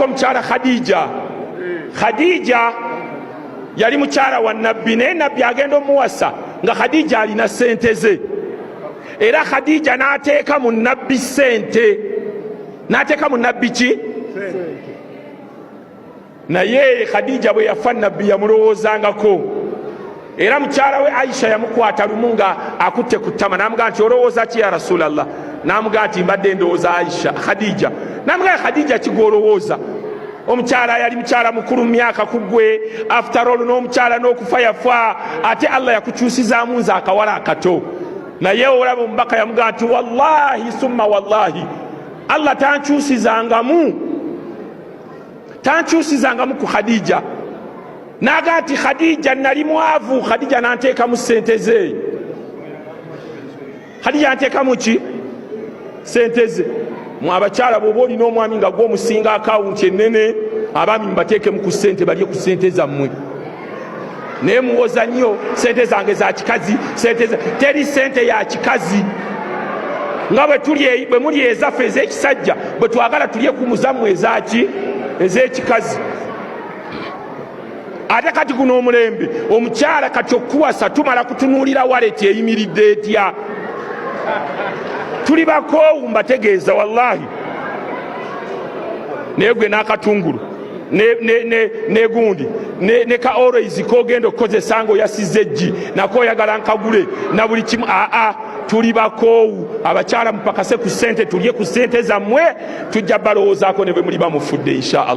omukyala khadija khadija yali mukyala wa nabbi naye nabbi agenda omuwasa nga khadija alina sente ze era khadija n'ateeka mu nabbi sente n'ateeka mu nabbi ki naye khadija bwe yafa nabbi yamulowoozangako era mukyala we aisha yamukwata lumu nga akutte ku ttama namugaa nti olowooza ki ya rasulllah namugaa nti mbadde ndowooza aisha khadija namugaa khadija kigwolowooza omukyala yali mukyala mukulu mu myaka ku gwe afterall n'omukyala n'okufa yafa ate allah yakukyusizaamu nze akawala akato naye olaba omubaka yamugaa nti wallahi summa wallahi allah tankyusizangamu tankyusizangamu ku khadija naga nti khadija nali mwavu khadija nanteekamu sente ze khadija nanteekamu ki sente ze mwabakyala bwoba olina omwami nga gwe omusinga akawunti enene abaami mubateekemu ku sente balye ku sente zammwe naye muwoza nnyo sente zange za kikazi sente teri sente ya kikazi nga bwe muli ezaffe ez'ekisajja bwe twagala tulye ku muzammwe ezaki ez'ekikazi ate kati guno omulembe omukyala kati okuwasa tumala kutunuulira waleti eyimiridde etya tuli bakoowu mbategeeza wallahi naye gwe n'akatungulu negundi ne ka always kogenda okukozesa nga oyasiza eggi nako oyagala nkagule na buli kimu aa tuli bakoowu abakyala mupakase ku sente tulye ku sente zammwe tujja balowoozaako ne bwe muli bamufudde inshaallah